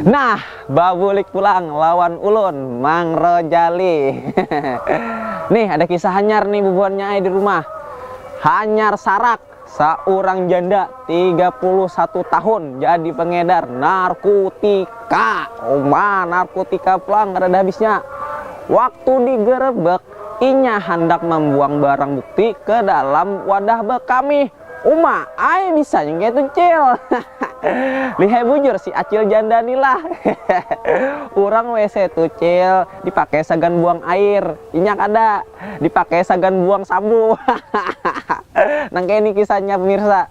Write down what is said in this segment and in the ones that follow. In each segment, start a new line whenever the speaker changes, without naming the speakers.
Nah, babulik pulang lawan ulun, Mang Rojali. Hehehe. Nih, ada kisah hanyar nih bubuhannya ai di rumah. Hanyar sarak, saurang janda tiga puluh satu tahun jadi pengedar narkutika. Uma, narkutika pulang kadada habisnya. Waktu digerebek, Inya handak mambuang barang bukti ke dalam wadah bekamih. Uma ai bisanya kayatu cil. Lihai bujur si acil janda ni lah. Urang wc tu cil dipakai sagan buang air, inya kada. Dipakai sagan buang sabu. Nang kaya ni kisahnya pemirsa.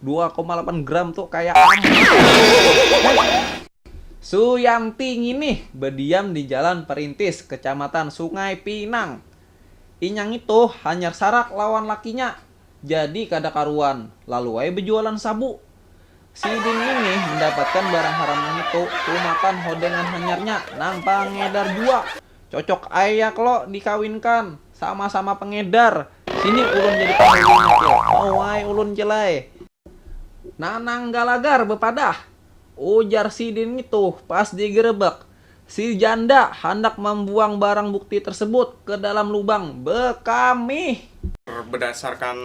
dua koma lapan gram tu kaya Suyanti nginih badiam di Jalan Perintis, Kecamatan Sungai Pinang. Inya ngitu hanyar sarak lawan lakinya, jadi kada karuan, lalu ai bejualan sabu. Sidin nginih mendapatkan barang haram ngitu tumatan hodengan hanyarnya nang pangedar jua. Cocok ai ya klo dikawinkan, sama-sama pengedar, sini ulun jadi panghulunya klo, mau ai ulun cil ai. Nanang Galagar bepadah, ujar sidin ngitu pas digerebek, si janda handak mambuang barang bukti tersebut ke dalam lubang bekamih. Bedasarkan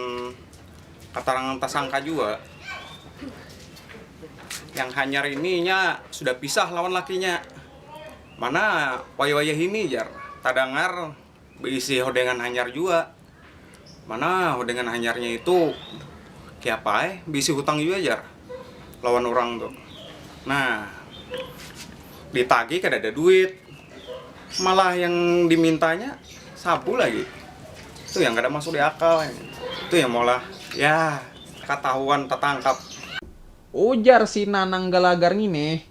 keterangan tersangka jua, yang hanyar ini inya sudah pisah lawan lakinya. Mana wayah-wayah ini jar tadangar beisi hodengan hanyar jua. Mana hodengan hanyarnya itu kiapa ai beisi hutang jua jar lawan urang tu. Nah ditagih kadada duit malah yang dimintanya sabu lagi. Tu yang kada masuk diakal. Tu yang maulah yah katahuan tatangkap. Ujar
si Nanang Galagar ngini,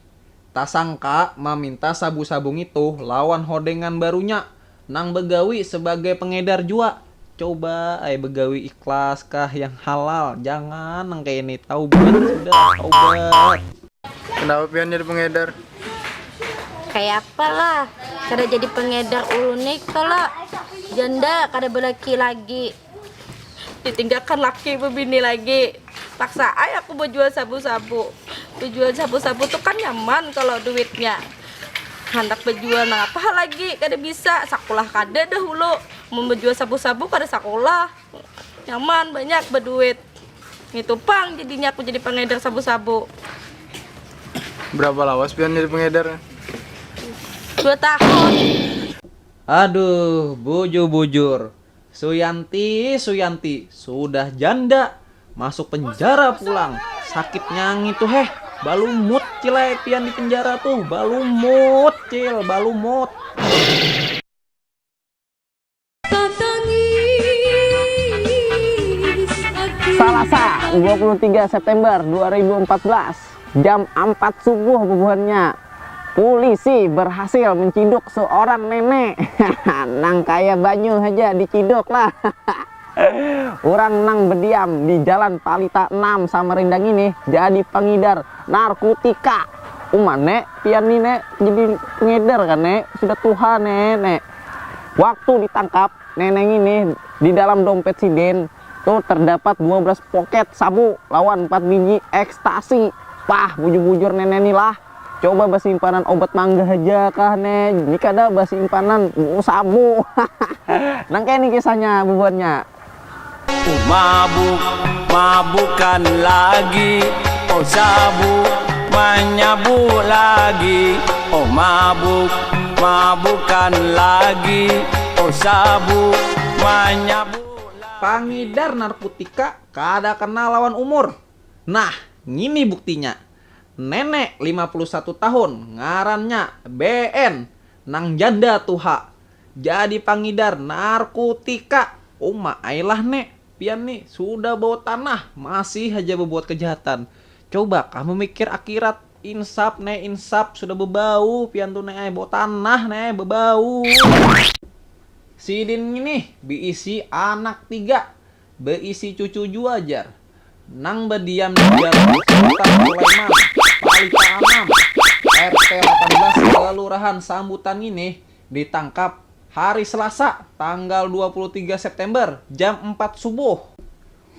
tasangka maminta sabu-sabu ngitu lawan hodengan barunya nang bagawi sabagai pengedar jua. Coba ai bagawi ikhlas kah yang halal, jangan nang kaya ini, taubat sudah, taubat. Kenapa
pian jadi pengedar?
Kayapa lah, kada jadi pengedar ulun ni kalo janda kada balaki lagi. ditinggalkan laki bebini lagi paksa ay aku berjual sabu-sabu berjual sabu-sabu tuh kan nyaman kalau duitnya handak berjual nah apa lagi kada bisa sakulah kada dahulu mau berjual sabu-sabu kada sakulah nyaman banyak berduit itu pang jadinya aku jadi pengedar sabu-sabu
berapa lawas pian jadi pengedar
dua tahun
aduh bujur-bujur Suyanti, Suyanti, sudah janda, masuk penjara pulang, sakitnya ngitu heh, balumut cil ai pian di penjara tuh, balumut cil, balumut. Salasa
dua puluh tiga September dua ribu empat belas. Jam ampat subuh bubuhannya, pulisi berhasil menciduk seorang nenek nang kaya banyu haja diciduk lah. Urang nang bediam di Jalan Palita enam Samarinda ngini jadi pangidar narkutika. Uma ne, pian ni ne jadi pengedar kah ne, sudah tuha ne ne. Waktu ditangkap, nenek ngini di dalam dompet sidin Tuh terdapat dua belas poket sabu lawan empat biji ekstasi. Pah, bujur-bujur nenek ni lah. Coba basimpanan obat mangga haja kah ne, ni kada basimpanan sabu. Hahaha. Nang kaya ni kisahnya bubuhannya. Oh mabuk,
mabukan lagi, oh sabu, manyabu lagi, oh mabuk, mabukan lagi, oh sabu, manyabu. Pangidar narkutika
kada kenal lawan umur. Nah, ngini buktinya. Nenek lima puluh satu tahun, ngarannya BN, nang janda tuha, jadi pangidar narkutika. Uma ai lah ne, pian ni sudah bawa tanah, masih haja babuat kejahatan. Coba kah mamikir akirat. Insap ne insap sudah bebau pian tu ne ai bau tanah ne ai bebau. Sidin nginih beisi anak tiga, beisi cucu jua jar nang bediam di dalam Sultan Sulaiman, Palita Anam, RT lapan belas Kelurahan Sambutan nginih ditangkap hari Selasa tanggal dua puluh tiga September jam empat subuh.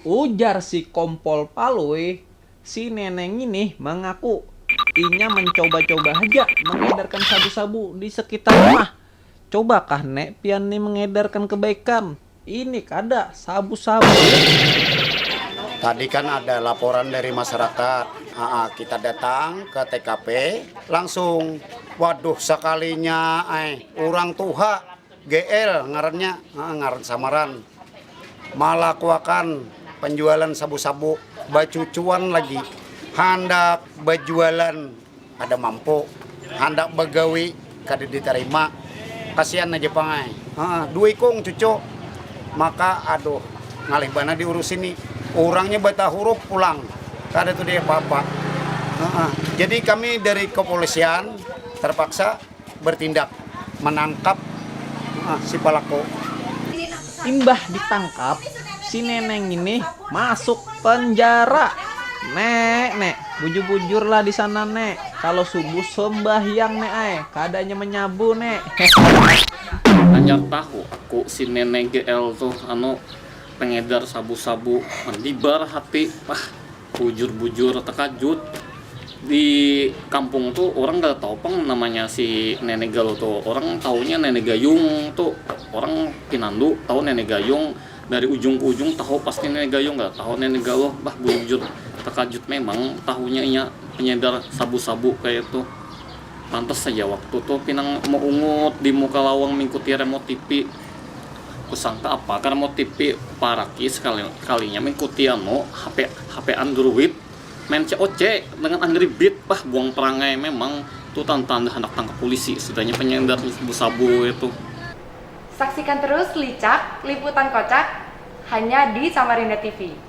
Ujar si Kompol Palui, Si nenek ngini mangaku inya mancoba-coba haja mangedarkan sabu-sabu di sekitar rumah. Cobakah nek pian ni mengedarkan kebaikan? Ini kada sabu-sabu.
Tadi kan ada laporan dari masyarakat, aa kita datang ke tkp langsung, waduh sakalinya ai urang tuha. Gl, ngarannya, ngaran samaran, malakuakan panjualan sabu-sabu bacucuan lagi handak bajualan kada mampu, handak bagawi kada ditarima, kasian haja pang ai, dua ikung cucu maka aduh ngalih banar diurusi ni, urangnya batahurup pulang kada tuh diapa-apa, jadi kami dari kepolisian terpaksa. bertindak manangkap si palaku.
Imbah ditangkap, si nenek ngini masuk penjara. Nek, nek, bujur-bujurlah di sana, nek. Kalo subuh sembahyang, nek ai, kada nya menyabu, nek. Hehehe. Hanyar
tahu aku si nenek GL tuh anu pengedar sabu-sabu, mandibar hati. Pah. Bujur-bujur takajut, di kampung tu urang kada tahu pang namanya si Nenek Galuh tu, urang tahunya Nenek Gayung tu urang pinandu tahu Nenek Gayung dari ujung ke ujung tahu pasti Nenek Gayung kada tahu Nenek Galuh bah bujur takajut memang tahunya inya panyadar sabu-sabu kaya itu. Pantas haja waktu tu pinang meungut di muka lawang mingkuti remote tipi. Kusangka apa ka remote tipi, paraki sekali kalinya mingkuti anu hape hape andruid. Main COC dengan angry beat, bah buang perangai memang tu tantanda handak tangkap pulisi sudahnya penyender sabu-sabu itu.
Saksikan terus Licak, liputan kocak hanya di Samarinda TV.